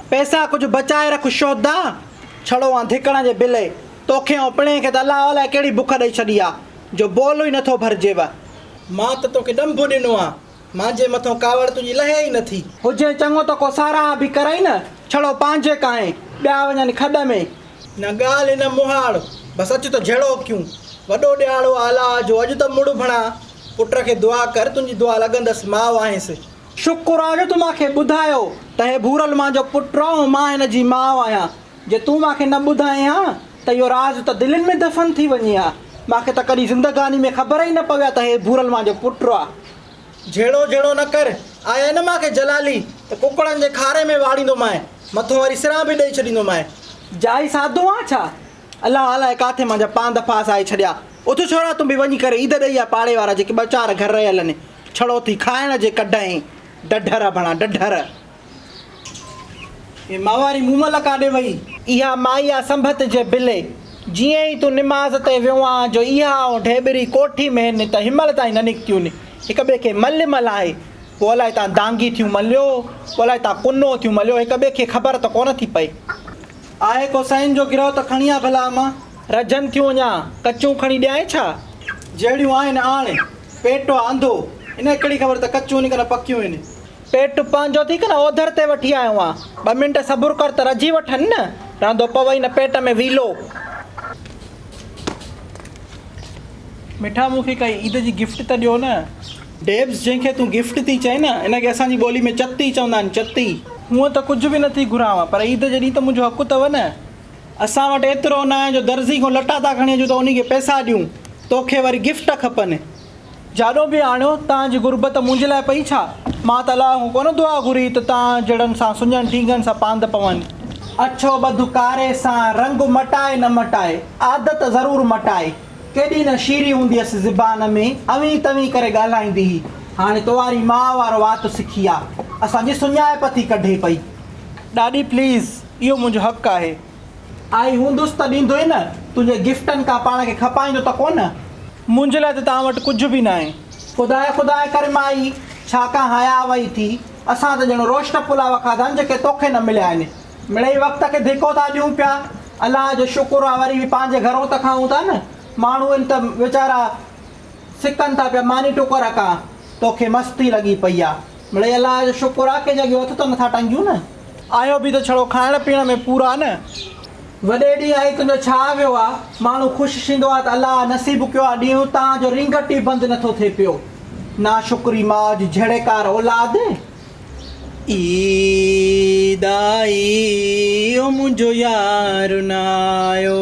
پئسا ڪجهه بچائي رک شودا ڇڙو آن ڌڪڻ جي بلي توکي ۽ پڻهين کي ته الله الائي ڪهڙي بک ڏئي ڇڏي آ جو بول ئي نٿو ڀرجيو. مان ته توکي ڏنڀ ڏنو آ. مانجهي مٿئون ڪاوڙ تنهنجي لهي ئي نٿي. هجين چڱو ته ڪو ساراهه به ڪرئين نه. ڇڙو پانجهي ڪانهين، ٻيا وڃن کڏ ۾. نه ڳالهه نه مهاڙ، بس اچ ته جهڙوڪيون. وڏو ڏيهاڙو آ الاء جو، اڄ ته مڙهه ڀڻا. پٽ کي دعا ڪر، تنهنجي دعا لڳندس، ماء آهينس. شڪر آ جو تون مان کي ٻڌايو ته هي ڀورل مانجهو پٽ آ ۽ مان هن جي ماء آهيان. جي تون مان کي نه ٻڌائين ها ته اهو راز ته دلين ۾ دفن ٿي وڃي ها. مان کي ته ڪڏهن زندگاني ۾ خبر ئي نه پوي ها ته هي ڀورل مان جو پٽ آ. جهيڙو جهيڙو نه ڪر. آء ان مان کي جلالي ته ڪڪڙن جي کاري ۾ واڙيندومانء. مٿون وري سران به ڏئي ڇڏيندومانء. جائي ساڌو آن ڇا؟ الله الاهي ڪاٿي مان جا پانڌ ڦاس آهي ڇڏيا. اٿ ڇورا تون به وڃي ڪري عيد ڏئي آ پاڙي وارا جيڪي ٻه چار گهر رهيل آهن. ڇڙو ٿي کائڻ جي ڪڍئين. ڍڍر آ ڀڻا ڍڍر. اي ماهواري مون ملهه ڪاڏي وئي؟ اها مائي آ سنڀت جي بلي. جيئن ئي تون نماز تي ويو آن جو اها ائون ڍيٻري ڪوٺي مهن ته هنمهل تائين نه نڪتيون ني. هڪ ٻئي کي ملهه ملهائي پوء الائي تان دانگي ٿيون ملهيو پوء الائي تان ڪنو ٿيون ملهيو هڪ ٻئي کي خبر ته ڪونه ٿي پئي. آهي ڪو سئين جو گرهه ته کڻي آ ڀلا امان. رجهن ٿيون اڃا ڪچون کڻي ڏيانء ڇا؟ جهڙيون آهن آڻ. پيٽ آ انڌو. هن کي ڪهڙي خبر ته ڪچون هن ڪن پڪيون هن. پير ٽپان جو ٿي ڪنھن اوڌر تي وٺي آيو آھيان. ٻه منٽ صبر ڪر ته رجي وٺن نه. رھندو پوي ھن پيٽ ۾ ويلو. مٺا مون کي ڪائي عيد جي گفٽ ته ڏيو نه. ڊيبس جنھن کي تون گفٽ ٿي چئين نه ان کي اسان جي ٻولي ۾ چتي چوندا آھن چتي. ھونئن ته ڪجھ به نه ٿي گھرانء پر عيد جي ڏينھن ته منھنجو حق اٿو نه. اسان وٽ ايترو ناھي جو درزي کان لٽا ٿا کڻي اچون ته انھي کي پئسا ڏيون. توکي وري گفٽ کپن. جاڏو به آڻيو، تان جي غربت منهنجي لاء پئي ڇا؟ مان ته الله کان ڪونه دعا گهري ته تان جهڙن سان سڃن ٽينگن سان پاند پون. اڇو ٻڌ ڪاري سان، رنگ مٽائي نه مٽائي، عادت ضرور مٽائي. ڪيڏي نه شيري هوندي هيس زبان ۾، اوهين توهين ڪري ڳالهائيندي هئي. هاڻي توهاري ماء وارو وات سکي آ، اسان جي سڃائپ ٿي ڪڍي پئي. ڏاڏي پليز، اهو منهنجو حق آهي. آء هوندس ته ڏيندو ئي نه. تنهنجي گفٽن کان پاڻ کي کپائيندو ته ڪو نه. منهنجي لاء ته توهان وٽ ڪجهه به ناهي. خداء خداء ڪري مائي، ڇا ڪا حياء وئي ٿي. اسان ته ڄڻ روشٽ پلاء کاڌا آهن جيڪي توکي نه مليا آهن. مڙئي وقت کي ڌڪو ٿا ڏيون پيا. الله جو شڪر آهي وري به پنهنجي گهرون ته کائون ٿا نه. ماڻهو آهن ته ويچارا سڪن ٿا پيا. ماني ٽڪر ڪا توکي مستي لڳي پئي آهي. مڙئي الله جو شڪر آهي ڪنهنجا ڳيو هٿ ته نٿا ٽنگيون نه. آهيو به ته ڇڙو کائڻ پيئڻ ۾ پورا نه. وڏي ڏينهن آئي تنهنجو ڇا ويو آ. ماڻهو خوش ٿيندو آ ته الله آ نصيب ڪيو آ ڏينهن اتان جو رينگٽ ئي بند نٿو ٿئي پيو. ناشڪري ماء جي جهڙيڪار اولاد. عيد آئي او منهنجو يار نه آيو.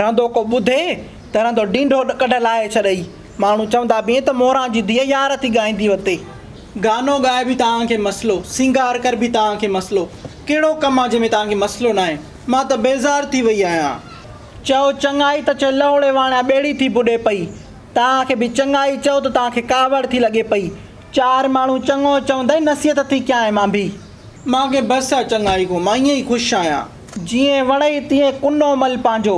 رهندو ڪو ٻڌي ته رهندو ڊينڍو ڪڍ لاهي ڇڏئي. ماڻهو چوندا به ائين ته موران جي ڌيء يار ٿي ڳائيندي وتي. گانو ڳائي به توهان کي مسئلو، سينگار ڪر به توهان کي مسئلو، ڪهڙو ڪم آ جنهن ۾ توهان کي مسئلو ناهي. مان ته بيزار ٿي وئي آهيان. چئو چڱائي ته چئو لهوڙي واڻيان ٻيڙي ٿي ٻڏي پئي. توهان کي به چڱائي چئو ته توهان کي ڪاوڙ ٿي لڳي پئي. چار ماڻهو چڱو چوندئي نصيحت ٿي ڪيانء مان ڀي. مان کي بس آ چڱائي کان مان ائين ئي خوش آهيان. جيئن وڻئي تيئن ڪنو مل پنهنجو.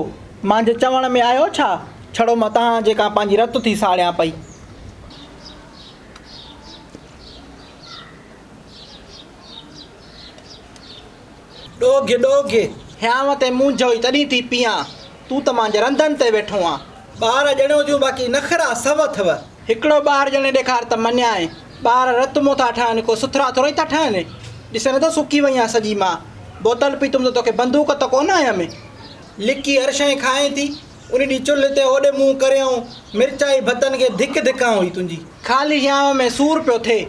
مانجهي چوڻ ۾ آيو ڇا؟ ڇڙو مان تهان جي ڪا پنهنجي رت ٿي ساڙيان پئي. ڏوگهي ڏوگهي هيانء تي مونجهوئي تڏهين ٿي پيئان. تون ته مانجهه رندن تي ويٺو آن. ٻار ڄڻيو جون باقي نخرا سو اٿئو. هڪڙو ٻار ڄڻي ڏيکار ته مڃيائين. ٻار رت مون ٿا ٺهن ڪو سٿرا ٿورئي ٿا ٺهن. ڏسين نٿو سڪي وئي آن سڄي مان. بوتل پيتم ته توکي بندوق ته ڪونه هنيم ۾. لڪي هر شيء کائين ٿي. ان ڏينهن چلهه تي هوڏي منهن ڪريائون مرچائي ڀتن کي ڌڪ ڌڪان هئي تنهنجي. خالي هيانء ۾ سور پيو ٿئي.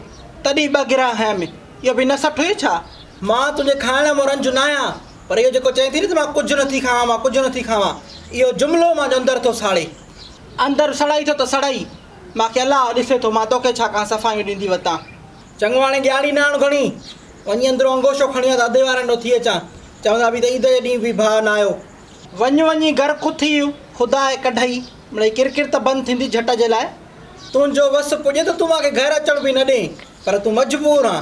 تڏهن ٻه گرهه هنيم. اهو به نه سٺئي ڇا. مان تنهنجي کائڻ مون رنج ناهيان. پر اهو جيڪو چئي ٿي نه ته مان ڪجهه نه ٿي کاوان مان ڪجهه نه ٿي کاوان اهو جملو مانجو اندر ٿو ساڙي اندر سڙئي ٿو ته سڙئي مان کي الله ڏسي ٿو مان توکي ڇا ڪا صفايون ڏيندي وتان چڱو هاڻي ڏياري ناڻ گهڻي وڃي اندرون انگوشو کڻي آ ته ادي وارن ڏو ٿي اچان چوندا به ته عيد جي ڏينهن به ڀاء نه آيو وڃ وڃي گهر کٿي خدا اي ڪڍئي مڙئي ڪرڪر ته بند ٿيندي جهٽ جي لاء تنهنجو وس پڄي ته تون مان کي گهر اچڻ به نه ڏين پر تون مجبور آن.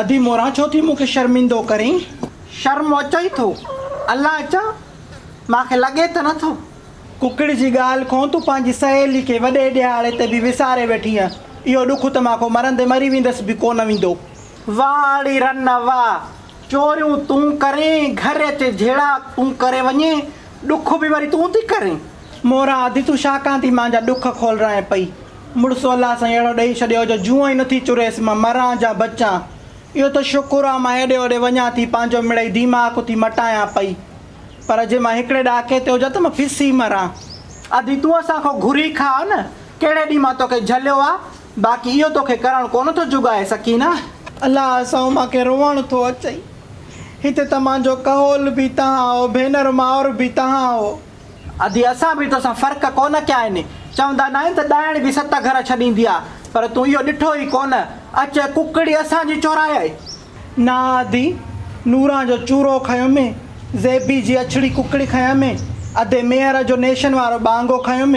ادي موران ڇو ٿي مون کي شرمندو ڪرين. شرم اچئي ٿو الا اچان مان کي لڳي ته نٿو. ڪڪڙ جي ڳالهه کون تون پنهنجي سهيلي کي وڏي ڏهاڙي تي به وساري ويٺينء اهو ڏک ته مان کون مرندي مري ويندس به ڪونه ويندو. واه اڙي رن واه چوريون تون ڪرين گهر اچي جهيڙا تون ڪري وڃين ڏک به وري تون ٿي ڪرين. موران ادي تون ڇا ڪان ٿي مان جا ڏک کولرائين پئي. مڙس الله سائين اهڙو ڏئي ڇڏيو جو جوئن ئي نٿي چريس مان مران جا بچان. اهو ته شڪر آ مان هيڏي هوڏي وڃان ٿي پنهنجو مڙئي ديماڪ ٿي مٽايان پئي. پر جي مان هڪڙي ڏاڪي تي هجان ته مان پسي مران. ادي تون اسان کان گهري کاء نه ڪهڙي ڏينهن مان توکي جهليو آ باقي اهو توکي ڪرڻ ڪونه ٿو جڳائي سڪينه. الله سائو مان کي روئڻ ٿو اچئي هتي ته مان جو ڪهول به تهان هو ڀينر مائر به تهان هو. ادي اسان به توسان فرق ڪونه ڪيا آهن، چوندا ناهن ته ڏائڻ به ست گهر ڇڏيندي آ، پر تون اهو ڏٺو ئي ڪونه، اچ ڪڪڙي اسان جي چورائي. نه ادي، نوران جو چورو کنيم، زيبي جي اڇڙي ڪڪڙي کنيم، ادي ميهر جو نيشن وارو ٻانگو کنيم،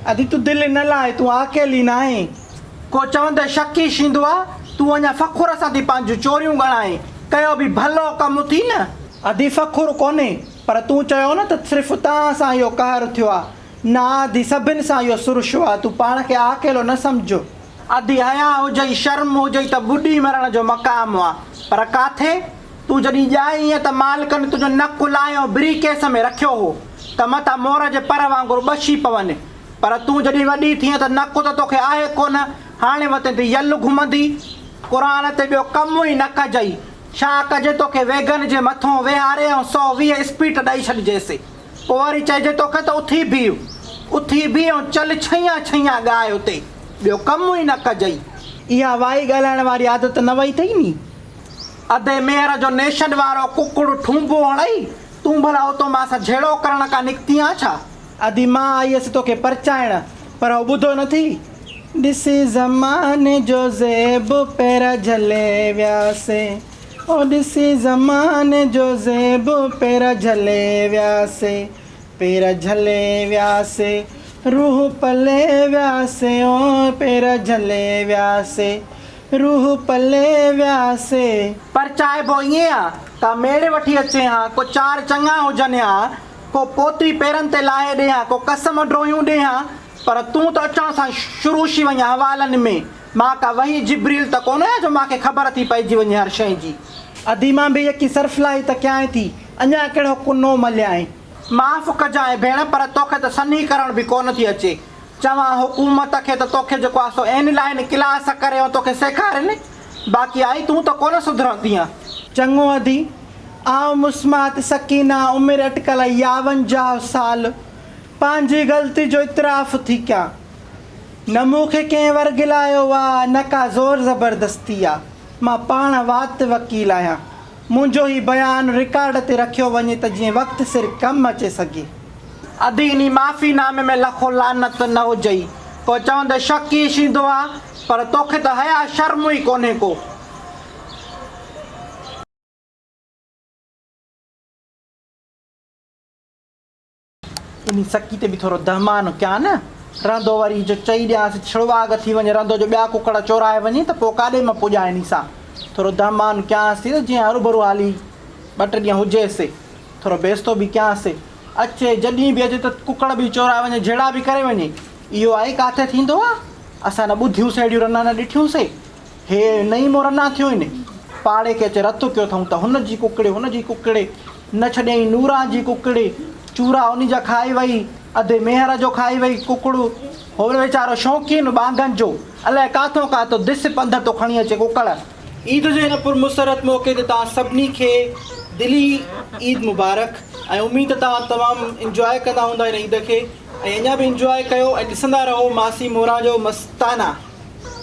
ادي تون دل نه لاء، تون آڪيلي ناهين. ڪو چوندي شڪ ئي شيندو آ، تون اڃا فخر سان ٿي پنهنجون چوريون ڳڻائين، ڪيو به ڀلو ڪم اٿئي نه. ادي فخر ڪونهي، پر تون چيو نه ته صرف تان سان اهو قهر ٿيو آ. نه آدي سڀن سان اهو سرشو آ. تون پاڻ کي عاقل نه سمجهه. آدي حياء هجئي شرم هجئي ته ٻڏي مرڻ جو مقام آ. پر ڪاٿي؟ تون جڏهن ڄائي هئين ته مالڪن تنهنجو نڪ لاهيو بري ڪيس ۾ رکيو هو ته متان مور جي پر وانگر ٻشي پون. پر تون جڏهن وڏي ٿيئين ته نڪ ته توکي آهي ڪونه. هاڻي وتين تي يل گهمندي. قرآن تي ٻيو ڪم ئي نه ڪجئي. ڇا ڪجي توکي ويگن جي مٿون ويهاري ۽ سؤ ويهه اسپيٽ ڏئي ڇڏجيس. پوء وري چئجي توکي ته اٿي بيهه. اٿي بيهه ۽ چل ڇهيان ڇهيان ڳاء اتي. ٻيو ڪم ئي نه ڪجئي. اها وائي ڳالهائڻ واري عادت نه وئي اٿئي ني. ادي ميهر جو نيشن وارو ڪڪڙ ٺونبو هڻئي. تون ڀلا اتو مان سان جهيڙو ڪرڻ ڪا نڪتي آن ڇا؟ ادي مان آئي هيس توکي پرچائڻ، پر هو ٻڌو نه ٿي. ڏسي زماني جو زيب پيرا جهلي ويا سي او ڏسي زماني جو زيب پيرا جهلي ويا سي پيرا جهلي ويا سي روح پلي ويا سي او پيرا جهلي ويا سي روح پلي ويا سي. پرچائبو ائين آ ته ميڙ وٺي اچين ها ڪو چار چڱا هجن ها. ڪو پوتري پيرن تي لاهي ڏي ها، ڪو قسم ڊوهيون ڏي ها، پر تون ته اچڻ سان شروع شي وڃ حوالن ۾، مان ڪا وحي جبريل ته ڪونه آهيان جو مان کي خبر ٿي پئجي وڃي هر شيء جي. ادي مان به يڪي سرفلاهي ته ڪيانء ٿي، اڃا ڪهڙو ڪنو مليانء. معاف ڪجانء ڀيڻ پر توکي ته سنهي ڪرڻ به ڪونه ٿي اچي. چوان حڪومت کي ته توکي جيڪو آسو اين لائين ڪلاس ڪريون توکي سيکارين، باقي آئي تون ته ڪونه سڌرندينء. چڱو ادي، آئون مسمات سڪينه عمر اٽڪل ياونجاهه سال، پنهنجي غلطي جو اعتراف ٿي ڪيان. نه مون کي ڪنهن ورغلايو آ، نه ڪا زور زبردستي آ. مان پاڻ وات وڪيل آهيان. منهنجو هي بيان رڪارڊ تي رکيو وڃي ته جيئن وقت سر ڪم اچي سگهي. ادي انهي معافي نامي ۾ لکو لعنت نه هجئي. ڪو چوندئي شڪ ئي شيندو آ. پر توکي ته حياء شرم ئي ڪونهي ڪو. انهي سڪي تي به ٿورو دهمان ڪيان. رندو وري جو چئي ڏيانس ڇڙواڳ ٿي وڃي رندو جو ٻيا ڪڪڙ چورائي وڃي ته پوء ڪاڏي مان پڄان انهي سان ٿورو دهمان ڪيانس ٿي ته جيئن هروڀرو هلي ٻه ٽي ڏينهن هجي سي ٿورو بيستو به ڪيان سي اچي جڏهين به اچي ته ڪڪڙ به چورائي وڃي جهيڙا به ڪري وڃي اهو آئي ڪاٿي ٿيندو آ اسان نه ٻڌيون سي اهڙيون رنا نه ڏٺيون سي. هي نئين مورنا ٿيون هن پاڙي کي اچي رت ڪيو اٿئون ته هن جي ڪڪڙي هن جي ڪڪڙي نه ڇڏيائين نوران جي ڪڪڙي چورا انهي جا کائي وئي اڌي ميهر جو کائي وئي ڪڪڙ هو ويچارو شوقين ٻانگن جو الائي ڪاٿئون ڪاٿئون دس پنڌ ٿو کڻي اچي ڪڪڙ عيد جي هن پر مسرت موقعي تي توهان سڀني کي دلي عيد مبارڪ ۽ اميد ته توهان تمام انجواء ڪندا هوندا هن عيد کي ۽ اڃا به انجواء ڪيو ۽ ڏسندا رهو ماسي موران جو مستانه.